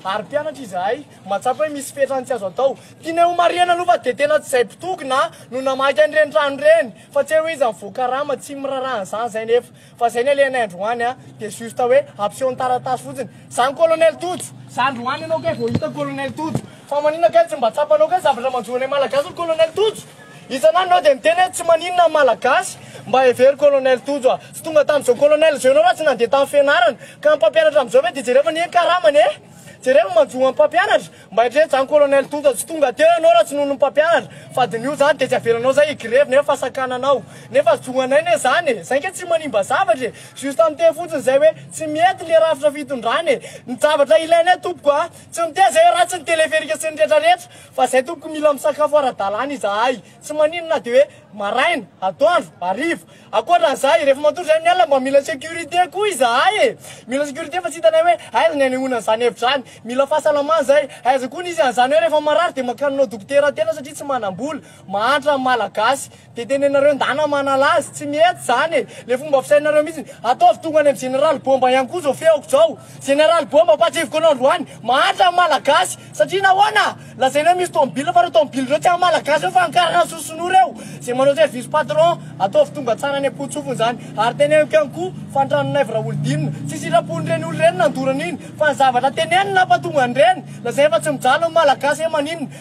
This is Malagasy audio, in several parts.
ary mpianatra izahay, mahatsapa hoe misy fetrany tsy azo atao. Tianay homarihana aloha fa dia tena tsy izay mpitokona no namaky an'ireny trano ireny, fa tsy hoe iza no voakarama, tsy miraraha an'izany izay nefa. Fa izay ny alehanay androany dia juste hoe hampiseho ny taratasy fotsiny. Izany Colonel Tojo. Za androany ianao kay vao hita Colonel Tojo. Fa maninona kay tsy mba tsapanao kay zavatra manjo anay Malagasy ry Colonel Tojo? Isan'andro enao dia miteny hoe tsy maninona ny Malagasy mba hevero Colonel Tojo a! Tsy tonga tamin'izao Colonel izao enao raha tsy nandeha tamin'ny fianarana. Ka ny mpampianatra amin'izao ve dia jereo fa anie ny karamany e! Jereo ny manjo an'ny mpampianatra. Mba hetreheta izany Colonel Tojo a! Tsy tonga teo enao raha tsy noho ny mpampianatra. Fa diniho izany dia tsy avelanao izay hi-grevy nefa sakananao. Nefa zo anay ne izany e! Izay ange tsy manimba zavatra e! Juste miteny fotsiny izay hoe tsy mety ilay rafitra fitondrana e! Ny zavatra ilainay tompoko a! Tsy miteny izay hoe ratsy ny teleferika sy ny retraretra. Fa zay tompoko mila misakafo ara-dalàna izahay, tsy maninona na dia hoe maraina, atoandro, hariva. Ankoatran'izay, rehefa matory izay amin'ny alina mba mila sécurité koa izahay e! Mila sécurité fa tsy hitanay hoe aiza ny hanehoana an'izany hevitra izany. Mila fahasalamana izay, aiza koa ny izy an'izany hoe rehefa marary dia mankany aminao dokotera tena satria tsy manam-bola. Mahantra ny Malagasy. Dia tenenareo ndana manala azy, tsy mety zany e! Le fomba fisainareo mihitsy, ataovy tonga any am Jeneraly Bomba ihany koa zao feoko zao! Jeneraly Bomba ampatsiviko anao androany, mahantra ny Malagasy! Satria nahoana? Lazainy hoe misy tomobile fa reo tomobile reo tsy an Malagasy reo fa an karana soson'o reo! Zay manao service patron, ataovy tonga tsara any ampotsofony zany! Ary teneniko ihany koa, fa ny tranon'aivo Raholidinina, tsy sitrapon'ireny olo reny nandorana iny, fa ny zavatra teneniny nampatonga an'ireny! Lazainy fa tsy mijaly ny Malagasy e! Maninona?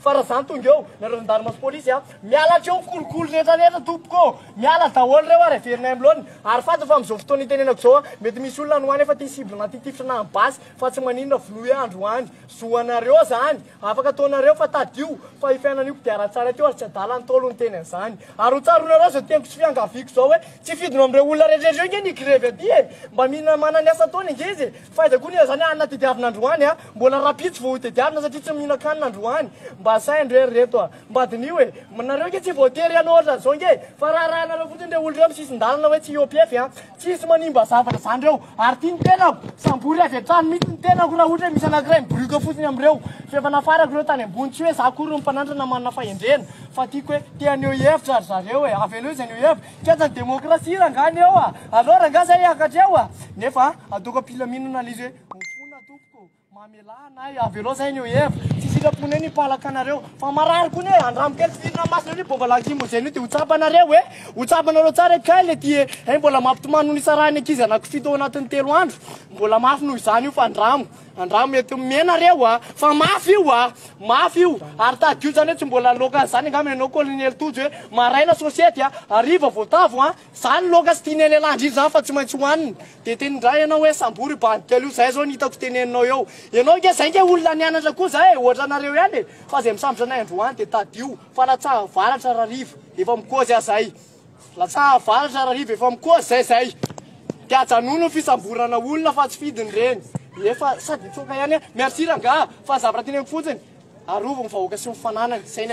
Fa raha zany tonga eo nareo zandarima sy polisy a! Miala aty eo kolikoly rehetra rehetra tompoko ô! Miala daholo reo ary averinay am laoniny! Ary fantatra fa amzao fotoana itenenako zao a! Mety misy olona any ho any efa tia cible na tia tifitra na basy fa tsy maninona vonoy andro any! Zo anareo zany! Afaka ataonareo fa tadio fa io fiainana io kodiarantsary aty io ary tsy adala ntaolo niteny anzany! Ary ho tsaroanareo zao teniko sy fiangaviako zao hoe tsy fidinao amreo olona rehetra rehetra io nge ny hi-grevy aty e! Mba mila manana ny asa ataony ange izy e! Faiza koa anie zany hanina tediavina androany a! Mbola rapitso vao ho tediavina satria tsy mihinan-kanina androany. Mba saino re ry reto a! Mba diniho e! Nareo ange tsy voatery hanao ohatran' izao ange e! Fa raharahanareo fotsiny ireo olona eo amin'ny sisin-dalana hoe tsy hiopefy a! Tsisy manimba zavatra izany ireo! Ary tia ny tenako! Sambory avy hatrany mihitsy ny tenako raha ohatra hoe misy anankiray miborioka fotsiny amin'ireo! F'efa nafarako ireo tany ambony, tsy hoe za akory no mpanandrana manana fahendrena, fa tiako hoe te haneho hevitra ry zareo e! Aveleo izy haneho hevitra! Fiantsany demokrasia rangah ny eo a! Aleo rangah zay hiakatra eo a! Nefa ataoko am-pilaminana le izy hoe, Mifona tompoko, mamelà anay, avelao zay ny eo hev. Tsy sitraponay ny mpalaka anareo. Fa marary kony e! Andramo kely fidirana masina an'io bôva lacrymogène io de ho tsapanareo e! Ho tsapanareo tsara e! Kay le ty e! Hay mbola mampitomany no nisarahan'ny ankizy anakifito ao anatin'ny telo andro. Mbola mafy noho izany io fa andramo. Andramo mety mihena reo a! Fa mafy io a! Mafy io! Ary tadidio zany hoe tsy mbola loaka an'zany angamba ianao Colonel Tojo hoe maraina sôsiety a! Hariva voatavo a! Zany loaka sy tian'i Lehilahy indrindra zany fa tsy maintsy hohanina! Dia teny ndray ianao hoe sambory io bandikely io, zay zao ny hitako teneninao eo! Ianao ange zay nge olona nianatra koa zay e! Ohatra anareo ihany e! Fa zay misambotra anay androany dia tadidio fa latsaha varatra rariva efa mikozy aza ay! Latsaha avaratra Rariva efa mikoa zay zay de ajanony ny fisamborana olona fa tsy fidiny reny efa sady mitsoaka ihany a merci rangah fa ny zavatra teneniko fotsiny arovy ny vahoaka sy ny fananany zay ny